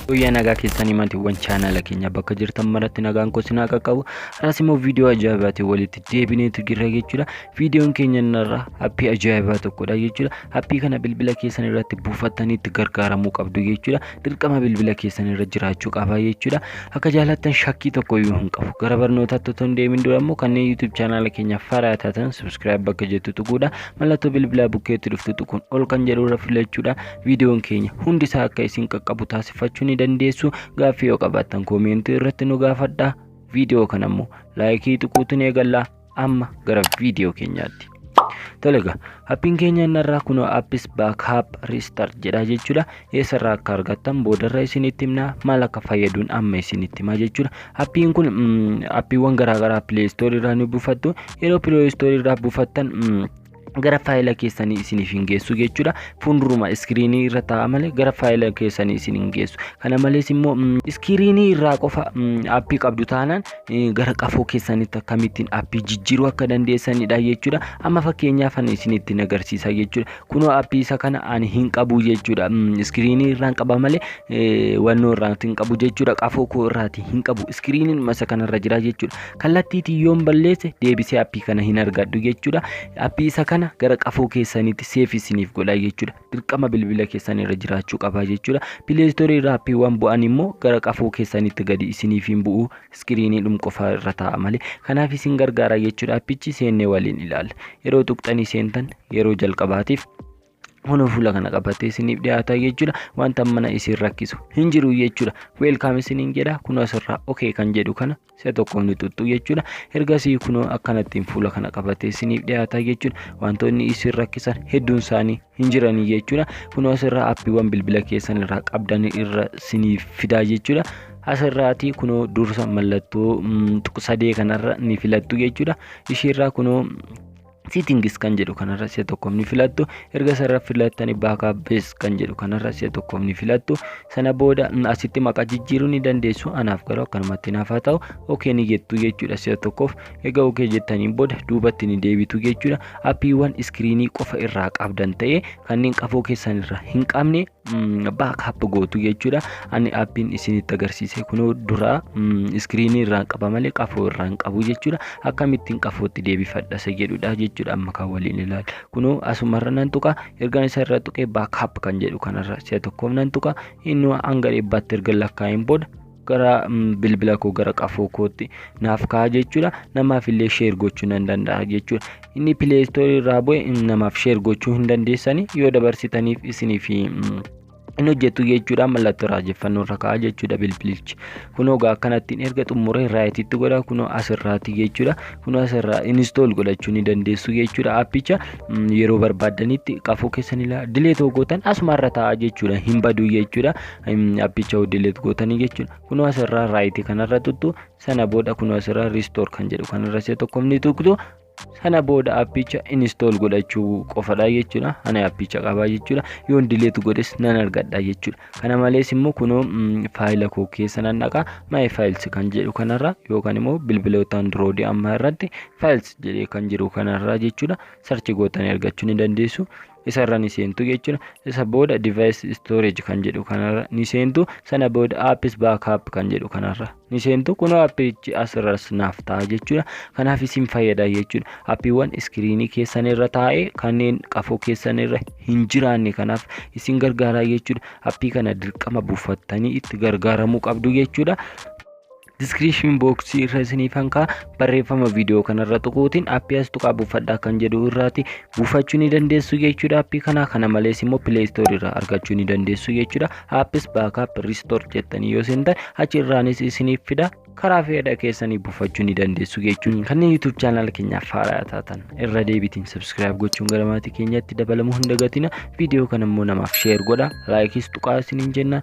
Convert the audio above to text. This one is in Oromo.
Guyyaa nagaa keessanii maatiiwwan chaanaala keenya bakka jirtan maratti nagaan koo sinaa qaqqabu har'as immoo viidiyoo ajaa'ibaatiin walitti deebineetu jirra jechuudha viidiyoon keenya irraa appii ajaa'ibaa tokkodha jechuudha appii kana bilbila keessan irratti buufattanii itti gargaaramuu qabdu jechuudha dirqama bilbila keessan irra jiraachuu qaba jechuudha akka jaalattan shakkii tokko iyyuu hin qabu gara barnootaatti otoo hin deemin dura immoo kanneen yuutuub chaanaala keenya faraa taatan subskiraayib bakka jettu tuquudha mallattoo bilbilaa bukkeetti dhuftu tuquun ol kan jedhu irra filachuudha viidiyoon keenya hundi isaa akka isin qaqqabu taasifachuu ni dandeessu gaaffii yoo qabaattan koomeentii irratti nu gaafadha viidiyoo kana immoo laayikii tuquutiin eegallaa amma gara viidiyoo keenyaatti. Tolega, appiin keenya inni irraa kunoo appis baakaap riistart jedha jechuudha. eessarraa akka argattan boodarra isinitti himna maal akka fayyaduun amma isinitti hima jechuudha appiin kun appiiwwan garaagaraa pilee istoorii irraa ni buufattu yeroo pilee istoorii irraa buufattan gara faayila keessanii isiniif hin geessu jechuudha fuulduruma iskiriinii irra taa'a malee gara faayila keessanii isin hin geessu kana malees immoo iskiriinii irraa qofa appii qabdu taanaan gara qafoo keessanitti akkamittiin appii jijjiiruu akka dandeessanidha jechuudha amma fakkeenyaaf isinitti agarsiisa jechuudha Kunoo appii isa kana ani hin qabu jechuudha. Iskiriinii irraan qaba malee wannoo irraati hin qabu jechuudha. Qafoo koo irraati hin qabu. Iskiriiniin masa kanarra jira jechuudha. Kallattiitiin yoon balleesse deebisee appii kana hin argadhu jechuudha. Appii isa kana gara qafoo keessaniitti seef isiniif godha jechuudha. Dirqama bilbila keessan irra jiraachuu qaba jechuudha. Pileestoorii irraa appiiwwan bu'an immoo gara qafoo keessaniitti gadi isiniif hin bu'u iskiriiniidhum qofa irra taa'a malee kanaaf isin gargaara jechuudha appichi seennee waliin ilaalla yeroo tuqxanii seentan yeroo jalqabaatiif Kunoo fuula kana qabatee isiniif dhiyaata jechuudha. Wanta mana isin rakkisu hin jiru jechuudha. Weelkaam isiniin jedha. Kunoo asirraa okee kan jedhu kana si'a tokko ni tuttu jechuudha. Ergasii kunoo akkanattiin fuula kana qabatee isiniif dhiyaata jechuudha. Wantoonni isin rakkisan hedduun isaanii hin jiranii jechuudha. Kunoo asirraa appiiwwan bilbila keessan irraa qabdan irra siniif fidaa jechuudha. Asirraati kunoo dursa mallattoo mm, tuq- sadee kanarra ni filattu jechuudha. Ishiirraa kunoo settings kan jedhu kanarra si'a tokkoof ni filattu erga sarara filattanii backup base kan jedhu kanarra si'a tokkoof ni filattu sana booda mm, asitti maqaa jijjiiruu ni dandeessu anaaf garuu akkanumatti naaf haa ta'u ok ni jettu jechuudha si'a tokkoof Egaa ok jettaniin booda duubatti ni deebitu jechuudha. Appiiwwan iskiriinii qofa irraa qabdan ta'ee kanneen qafoo keessan irraa hin qabne baakaap gootu jechuudha. Ani appiin isinitti agarsiise kunoo duraa iskiriinii irraan qaba malee qafoo irraa hin qabu jechuudha. Akkamittiin qafootti deebifadha isa jedhudha jechuudha amma kan waliin ilaal. Kunoo asumarra nan tuqa ergaan isa irra tuqee baakaap kan jedhu kanarra si'a tokkoof nan tuqa inni hanga dhibbaatti erga lakkaa'een booda gara bilbila koo gara qafoo kootti naaf ka'a jechuudha namaaf illee sheer gochuu nan danda'a jechuudha inni pileestoorii irraa bu'e namaaf sheer gochuu hin dandeessani yoo dabarsitaniif isiniif hin hojjetu jechuudha mallattoo raajeffannoo irra ka'a jechuudha bilbilichi kunoo gaa akkanattiin erga xumuree raayititti godha kunoo asirraati jechuudha kunoo asirraa inistool godhachuu ni dandeessu jechuudha appicha yeroo barbaaddanitti qafoo keessan ilaa dilee tokkootan asumarra ta'a jechuudha hin baduu jechuudha appicha dileet gootanii jechuudha. Kunoo asirraa raayitii kanarra tuttu sana booda kunoo asirraa riistoor kan jedhu kanarra si'a tokko ni tuqtu sana booda appicha inistool godhachuu qofadha jechuudha. Ani appicha qabaa jechuudha. Yoon dileet godhes nan argadha jechuudha. Kana malees immoo kunoo faayila koo keessa nan dhaqa maayee faayils kan jedhu kanarra yookaan immoo bilbiloota andiroodii ammaa irratti faayils jedhee kan jiru kanarra jechuudha. Sarchi gootanii argachuu ni dandeessu. isa irra ni seentu jechuudha isa booda device storage kan jedhu kanarra ni seentu sana booda apps backup kan jedhu kanarra ni seentu kunoo appichi asirras naaf ta'a jechuudha kanaaf isin fayyada jechuudha appiiwwan iskiriinii keessan irra taa'ee kanneen qafoo keessan irra hin jiraanne kanaaf isin gargaaraa jechuudha appii kana dirqama buufattanii itti gargaaramuu qabdu jechuudha Description box irra isiniif hankaa barreeffama viidiyoo kanarra tuquutiin appii as tuqaa buufadhaa kan jedhu irraati buufachuu ni dandeessu jechuudha appii kana kana malees immoo play store irraa argachuu ni dandeessu jechuudha appis baakaap restore jettanii yoo seentan achi irraanis isiniif fida karaa fedha keessanii buufachuu ni dandeessu jechuun kanneen YouTube channel keenyaaf haaraa taatan irra deebitiin subscribe gochuun gara maatii keenyatti dabalamuu hin dagatina viidiyoo kana immoo namaaf share godha laayikiis tuqaa isiniin jenna